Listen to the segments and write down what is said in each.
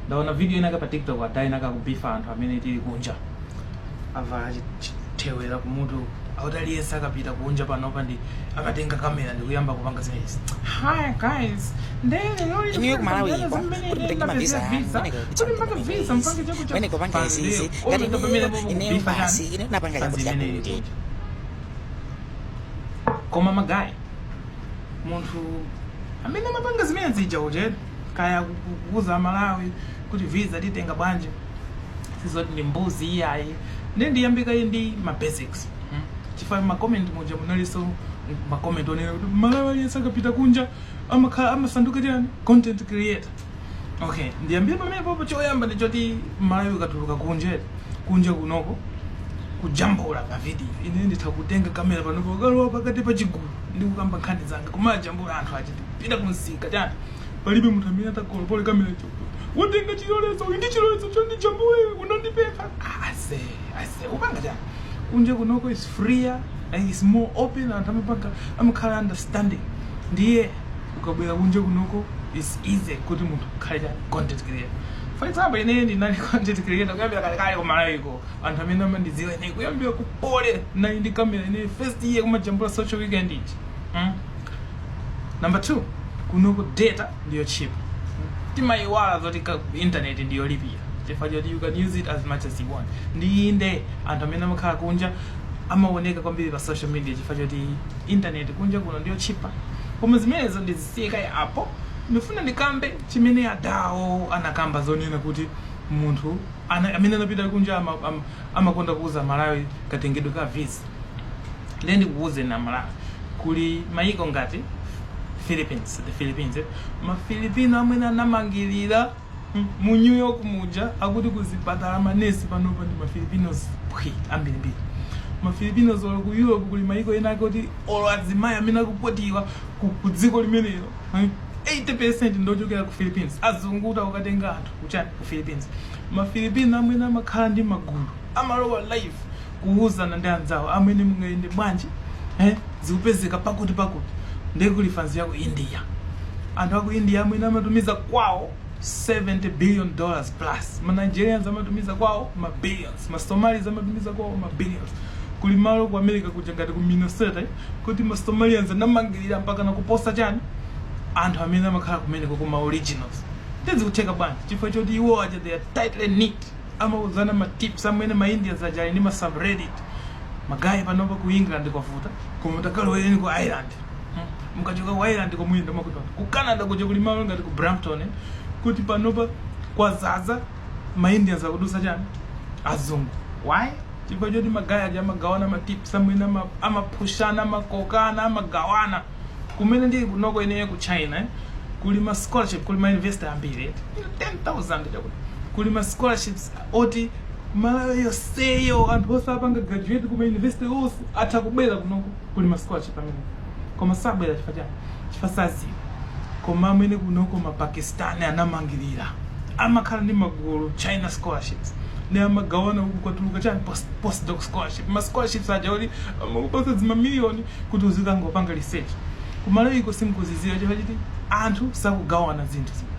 ndaona video inayake pa tiktok ada inayake kubifa anthu amene tili kunja avala chi- chi- thewera kumutu akuti aliyense akapita kunja panopa nde akatenga kamera ndikuyamba kupanga zimenezi hi guys Inuyo ku Malawi kwa kuti mpange mavisa amwene kutenga visa mpange chakuti amwene kupanga izizi ngati inuyo ineyo basi ine napanga chakuti chakuti koma magaye munthu amene amapanga zimene zija kuti kaya akuuza amalawi kuti visa titenga bwanji sizoti ndi mbuzi iyayi nde ndiyambe kaye ndi ma basics mm. chifukwa ma comment muja munalinso ma comment onena kuti mmalawi aliyense akapita kunja amakhala amasanduka chani content creator okay ndiyambire pamenepopo choyamba ndi choti mmalawi ukatuluka kunja kunja kunoko kujambula mavidiyo ine nditha kutenga kamera panopo kukalowa pakati pa chigulu ndi kukamba nkhani zanga kumajambula anthu aja kupita kumsika chani palibe munthu amene atakolopole kamera iwe watenga chilolezo uyu ndi chilolezo chondijambula unandipempha ase ase upanga chani kunja kunoko is freer and is more open anthu amapanga amakhala understanding ndiye ukabwera kunja kunoko is easy kuti munthu ukhale chani content creator for example ine ndinali content creator kuyambira kalekale ku malawiko anthu amene amandidziwa ine kuyambira ku poly nali ndi kamera ine first year kumajambula social weekend iti mm? number two kunoko data ndiyo cheap timayiwala zoti ka- internet ndiyolipira chifukwa choti you can use it as much as you want nde nde anthu amene amakhala kunja amaoneka kwambiri pa social media chifukwa choti internet kunja kuno ndiyo cheaper koma zimenezo ndizisiye kaye apo ndifuna ndikambe chimene adawo anakamba zonena kuti munthu ana, amene anapita kunja ama, ama, amakonda kuuza amalawi katengedwe ka visa ndiye ndikuuzeni amalawi kuli mayiko ngati philippines the philippines eh? mafilipino amwene anamangirira Mu New York muja akuti ku zipatala manesi panopa ndi ma Filipinos phwi ambirimbiri. Ma Filipinos olo ku Europe kuli mayiko ena ake oti olo azimayi amene akukwatiwa ku, ku dziko limenelo eh, 80% ndochokera ku Philippines. Azungu kupita kukatenga anthu kuchani ku Philippines. Ma Filipino amwene amakhala ndi magulu amalowa live kuuzana ndi anzawo amwene mungayende bwanji eh? zikupezeka pakuti pakuti ndiye kuli fanzi ya ku india anthu aku india amwene amatumiza kwawo 70 billion dollars plus ma nigerians amatumiza kwawo ma billions ma somalis amatumiza kwawo ma billions kuli malo ku america kuja ngati ku minnesota eh, kuti ma somalians anamangirira mpaka nakuposa chani anthu amene amakhala kumeneko ma originals nde zikutheka bwanji chifukwa choti iwo aja they are tightly knit amauzana ma tips amwene ma Indians aja ali ndi ma subreddit magaye panopa ku England kwavuta koma mutakaloweni ku Ireland hmm. mukachoka ku Ireland komwe ndo makuti ku Canada kuja kuli malo ngati ku Brampton eh, kuti panopa kwazaza ma Indians akudusa chani azungu why chifukwa choti magaye aja amagawana ma tips amwene ama- amaphushana amakokana amagawana kumene ndili kunoko ineyo ku china eh, kuli ma scholarship kuli ma university ambiri eti 10000 chakuti kuli ma scholarships oti malawi yoseyo anthu onse apanga graduate kuma university onse atha kubwera kunoko kuli ma scholarship amene koma sabwera chifukwa chani chifukwa saziwa koma amwene kunoko mapakistani anamangirira amakhala ndi magulu china scholarships ndi amagawana uku kwatuluka chani post, postdoc scholarship ma scholarships aja oti amakupasa zimamiliyoni kuti uzikangopanga research ku malawi iko simkuziziwa chifukwa chiti anthu sakugawana zinthu zimene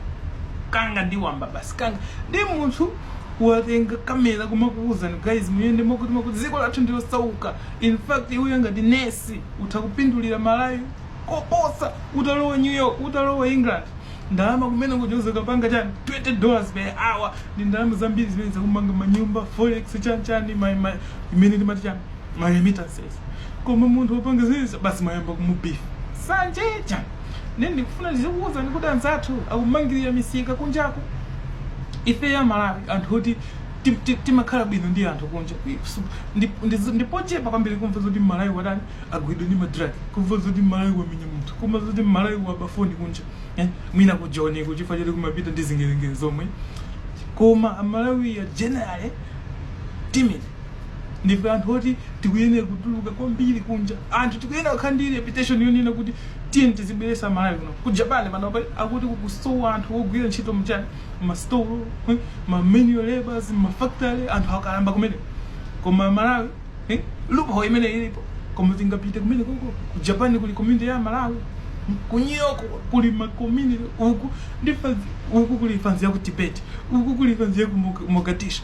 kanga ndi wamba basi kanga ndi munthu watenga kamera kumakuwuzani guys muyende mokuti mokuti dziko lathu ndilosauka in fact iwe ngati nesi utha kupindulira malawi koposa utalowa new york utalowa england ndalama kumeneku uzakapanga chani 20 dollars per hour ndi ndalama zambiri zimene zakumanga manyumba forex chani chani ma- ma- imene timati chani ma remittances koma munthu wapanga izi basi mayamba kumubifa nsanje ija ine ndikufuna ndizikuwuzani kuti anzathu akumangirira misika kunjaku ife amalawi anthu oti ti- ti- timakhala bwino ndi anthu kunja Su- ndi- ndi- ndipochepa kwambiri kumva zoti mmalawi watani wagwidwa ndi madrag kumva zoti mmalawi wamenya munthu kumva zoti mmalawi waba foni kunja eh? mwina kujoniku chifukwa choti kumapita ndi zingerengere zomwe koma amalawi are generally timid ndife anthu oti tikuyenera kutuluka kwambiri kunja anthu tikuyenera kukhala ndi reputation yonena kuti tiyeni tizibweresa amalawi kuno ku japan panopa akuti kukusowa anthu ogwira ntchito mchani ma store eh, ma manual labors mafactory anthu akalamba kumene koma malawi eh, loophole imene ilipo koma tingapite kumenekoko ku japan kuli community ya malawi ku new york kuli ma community uku kuli fanzi uku kuli fanzi ya ku tibet uku kuli fanzi ya ku Moga- mogadishu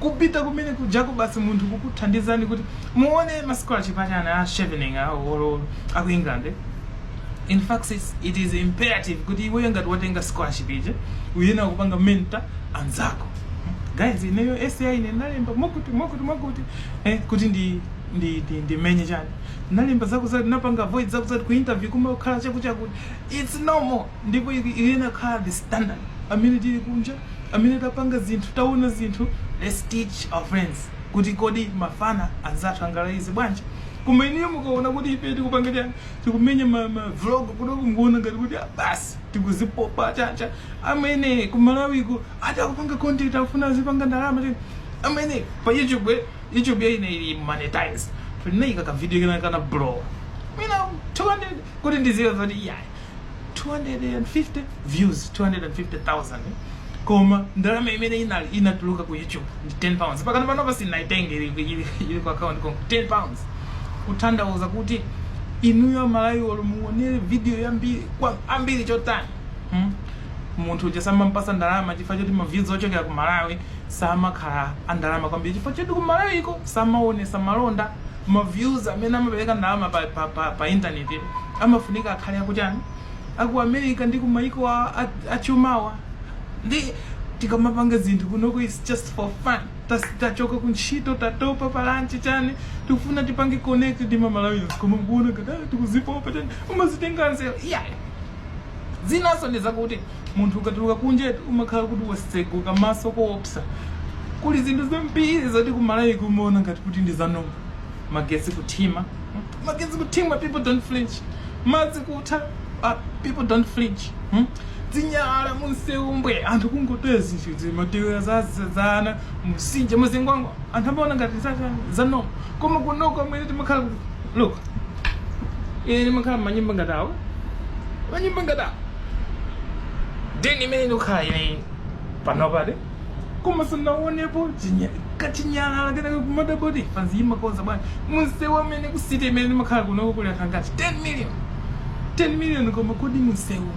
kupita kumene kujako basi munthu kukuthandizani kuti muone ma scholarship achani a chevening awo or aku england eh? in fact it's, it is imperative kuti iweyo ngati watenga scholarship ija uyenera kupanga mentor anzako guys ineyo essay ine nalemba mokuti mokuti mokuti eh, kuti ndi ndi ndi ndimenye chani nalemba zakuzati napanga avoid zakuzati ku interview kumakhala chakuchakuti it's normal ndipo iku- iyenera kukhala the standard amene tili kunja amwene tapanga zinthu taona zinthu let's teach our friends kuti kodi mafana anzathu angalaize bwanji koma inuyo mukaona kuti ife tikupanga chani tikumenya ma, ma vlog kunoku mukuona ngati kuti ah, basi tikuzipopa chabe amwene kumalawiko ati akupanga content afuna azipanga ndalama chani amwene pa youtube eh, youtube ya ine ili monetized tinaika ka video kena kake kana blow mina 200 kuti ndiziwe zoti yeah 250 views 250,000 koma ndalama imene inatuluka ku youtube ndi 10 pounds pakana panopa sindinaitenge ili, ili, ili ku account konko 10 pounds kutanthauza kuti inuyo amalawi olo muonere video yambirimbiri chotani hmm? munthu uja samampasa ndalama chifukwa choti maviews ochokera ku malawi samakhala andalama kwambiri chifukwa choti ku malawiko samaonesa malonda ma views amene amapereka ndalama pa, pa, pa, pa internet yo, amafunika akhale akuti chani aku america ndi ku maiko a- a- achumawa nde tikamapanga zinthu kunoko is just for fun Tas- tachoka ku ntchito tatopa pa lunch chani tikufuna tipange connect ndi ma Malawians koma mukuona ngati "Ah, tikuzipopa chani umazitenga anzeru iyayi zinanso ndi zakuti Munthu ukatuluka kunjetu umakhala kuti waseguka maso koopsa. Kuli zinthu zambiri zoti ku Malawi kumaona ngati kuti ndi zanoma. Magetsi kuthima, magetsi kuthima, people don't flinch. Madzi kutha, ah, people don't flinch. Hmm? Zinyalala munsewu mbwe, anthu kungotaya zinthu izi, matewera za za- za ana, mumtsinje, muzingwangwa. Anthu amaona ngati za- zanoma. Koma kunoko amwene timakhala kuti, look, ine ndimakhala manyumba ngati awa, manyumba ngati awa. deni imene ndikukhala ineyi panopatu koma sindinaonepo chinya- kachinyalala kenakake kamatayidwa pansi imakonza bwana munsewu amwene ku city imene ndimakhala kunoko kuli anthu angati 10 million 10 million koma kodi munsewu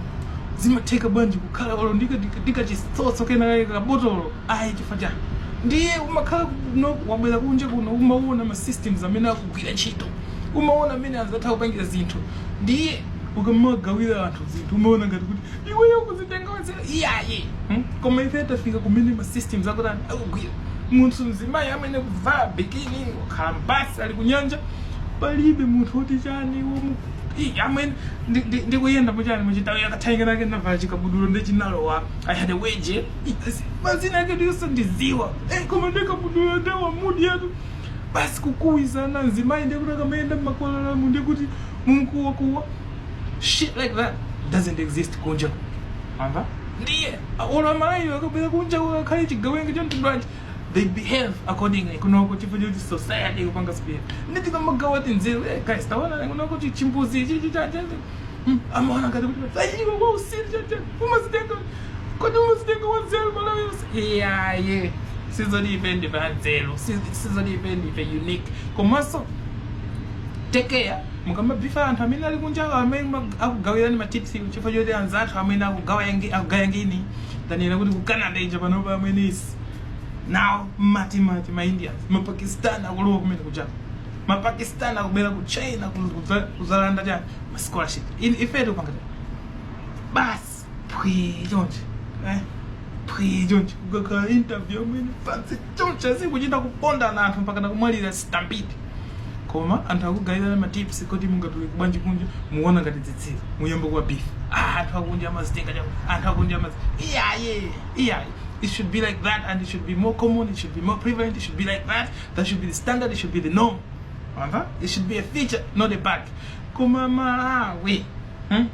zimatheka bwanji kukhala olo ndikachisotso kenakake kabotolo ayi chifukwa chani ndiye umakhala kuno wabwera kunja kuno umaona ma systems amene akugwira ntchito umaona mmene anzathu akupangira zinthu ndiye ukamagawira anthu zinthu amaona ngati kuti iweyo ukuzitenga wanzeru iyayi hmm? koma ife tafika kumene ma systems akutani akugwira munthu mzimayi amwene kuvala bikini wakhala mbasi ali kunyanja palibe munthu woti chani womu Ih, amwene ndi- ndi- ndikuyenda muchani mutauni akathainga nake navala chikabudula nde chinalowa i had a wedgie Ih, asi- mazina ake ndiyonse ndiziwa Eh, koma ndikabudula ndawa mudi yatu basi kukuwizana mzimayi ndiye kuti akamayenda mmakwalalamu ndiye kuti mumkuwakuwa shit like that doesn't exist kunja ndiye olo amalawiwo akabwera kunja akhale chigawenga cha mtundu wanji they behave accordingly kunoko chifukwa choti society ikupanga spear nde tikamagawa tinzeru eh, guys taona kunoko chi- chimbuzi chichi chache Hmm, amaona ngati kuti iwe wa usiru chacha umazitenga kodi umazitenga wanzeru malawi yonse iyaye sizoti ife ndife anzeru siz- sizoti ife ndife unique komanso take care mukamabifa anthu amene ali kunja amene ma- akugayirani matips chifukwa choti anzathu amene akugawa yangi- akugaya ngini tanena kuti ku canada ija panopa amene is now mmatimati ma indians mapakistan akulowa kumene kuja ma pakistan akubera ku china ku- kudza- kudzalanda cha ma scholarship In- ife tikupanga cha basi phwi chonchi eh? phwi chonchi kukakhala interview amene pansi chonchi azikuchita kupondana anthu mpaka nakumwalira stampede koma anthu akugayirana matips kuti mungatuluke bwanji kunja muwona ngati dzitsiru muyambe kuwa beef ah, anthu akunja amazitenga chako anthu akunja amazi iyaye iyaye it should be like that and it should be more common it should be more prevalent it should be like that that should be the standard it should be the norm wamva it should be a feature not a bug koma malawi hmm?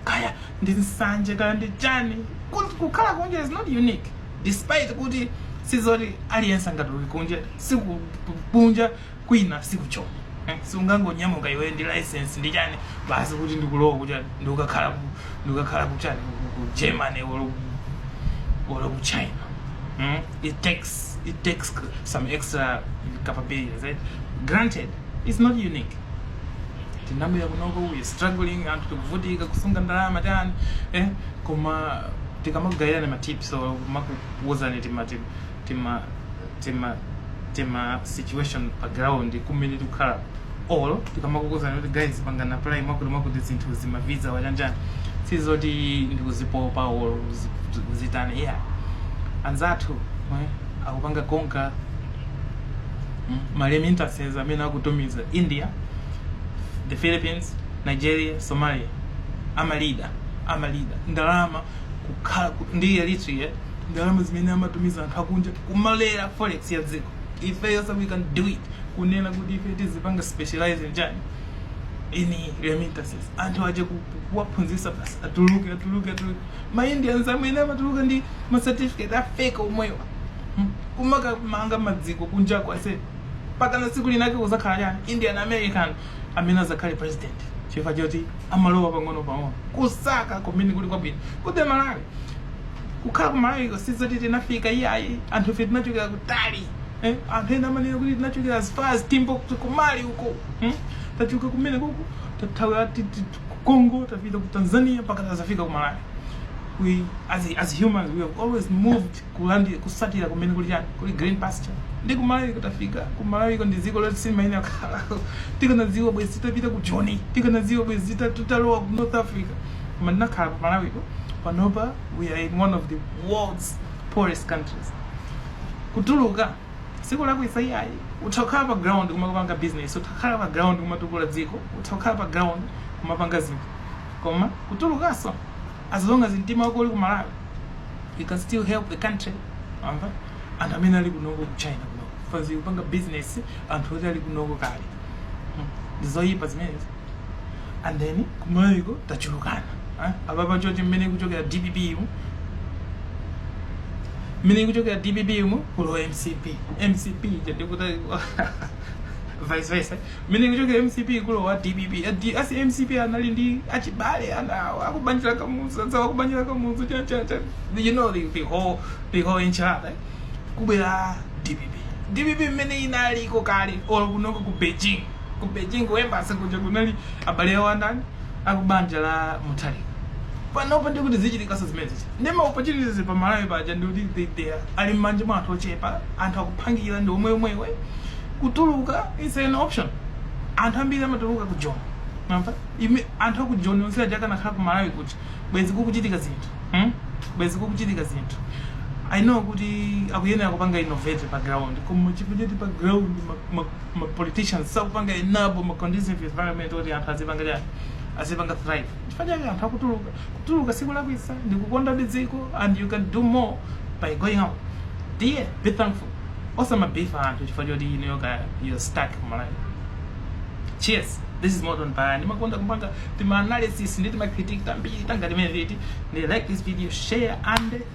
kaya ndi nsanje kaya ndi chani Ku- kukhala kunja is not unique despite kuti sizoti aliyense angatuluke kunja sikuti kunja kwina sikuchoma Eh, siungangonyamuka iwe ndi license ndi chani basi kuti ndikulowa kuti ndikukakhala ku- ndikukakhala kuchani ku ku- ku germany or ku- or ku china Hmm? it takes it takes some extra capabilities right? granted it's not unique tinabwera kunoko we struggling anthu tikuvutika kusunga ndalama tani eh? koma tikamakugayirani matips or kumakuuzani tima tima tima tima tima situation pa ground kumene tikukhala or tikamakuuzani kuti guys pangani apply mwakuti mwakuti zinthu zima visa chanichani sizoti ndikuzipopa or kuzi- kuzitana yeah anzathu eh, akupanga konka mm, maremittances amene akutumiza india the philippines nigeria somalia amalida amalida ndalama kukhala ku- ndi eritrea ndalama zimene amatumiza anthu akunja kumalera forex ya dziko ifenso we can do it kunena kuti ife tizipanga specialize chani in remittances anthu aje ku- ku- kuwaphunzisa basi atuluke atuluke atuluke ma indians amene amatuluka ndi ma certificate a fake omwewa Hmm? kumakamanga madziko kunjako ase mpakana siku linake kuzakhala chani indian american amene azakhale president chifukwa choti amalowa pang'ono pang'ono kusaka kumene kuli kwabwino kuti malawi kukhala kumalawi sizoti tinafika iyayi anthu ife tinachokera kutali eh, anthu ena amanena kuti tinachokera as far as timbuktu kumali uko hmm? tachoka kumene kuko tathawira ti- ti- ti- ku congo tapita ku tanzania mpaka tazafika ku malawi we as, as humans we have always moved kulandi kusatira kumene kuli chani kuli green pasture ndi kumalawi kudzafika kumalawiko ndi dziko loti sitimayenera kukhala tikanadziwa bwezi titapita ku joni tikanadziwa bwezi tita- titalowa ku north africa koma tinakhala ku malawiko panopa we are in one of the world's poorest countries kutuluka sikulakwitsa iyayi utha kukhala pa ground kumapanga business utha kukhala pa ground kumatukula dziko utha kukhala pa ground kumapanga zinthu koma kutulukanso as long as mtima wako uli ku malawi you can still help the country amba anthu amene ali kunoko ku china kunoko fanzi kupanga business anthu oti ali kunoko kale Hmm. ndizoyipa zimenezi and then kumayiko tachulukana eh? apapa chonchi mmene ikuchokera dpp mmene ikuchokera dpp kulowa mcp mcp ija ndikuti vice versa mmene ikuchokera mcp kulowa dpp A- a mcp anali ndi achibale awo akubanja la kamuzu anzawo akubanja la kamuzu cha- cha- cha. you know the, the whole the whole enchilada eh? kubwera dpp dpp mmene inaliko kale or kunoko ku beijing ku beijing ku embassy kuja kunali abale awo andani akubanja la mutharika panopo ndi kuti zichitikanso zimenezi ndi maopportunities pa malawi paja ndi kuti they- they are- ali mmanja mwa anthu ochepa anthu akuphangira ndi omwe omwewo kutuluka is an option anthu ambiri amatuluka ku joni mumawona anthu aku joni onse aja akanakhala ku malawi kuti bwezi kukuchitika zinthu hmm? bwezi kukuchitika zinthu i know kuti akuyenera kupanga innovate pa ground koma chikhalecho pa ground ma, ma, ma politicians sakupanga enable ma conducive environment oti anthu azipanga chani azipanga thrive chifukwa chake anthu akutuluka kutuluka sikulakwitsa ndi kukonda dziko and you can do more by going out dear be thankful osamabifa anthu chifukwa choti iweyo you're stuck kumalawi cheers this is modern paya ndimakonda kupanga tima analysis ndi tima critique tambiri tangati timeneti ndiye like this video share and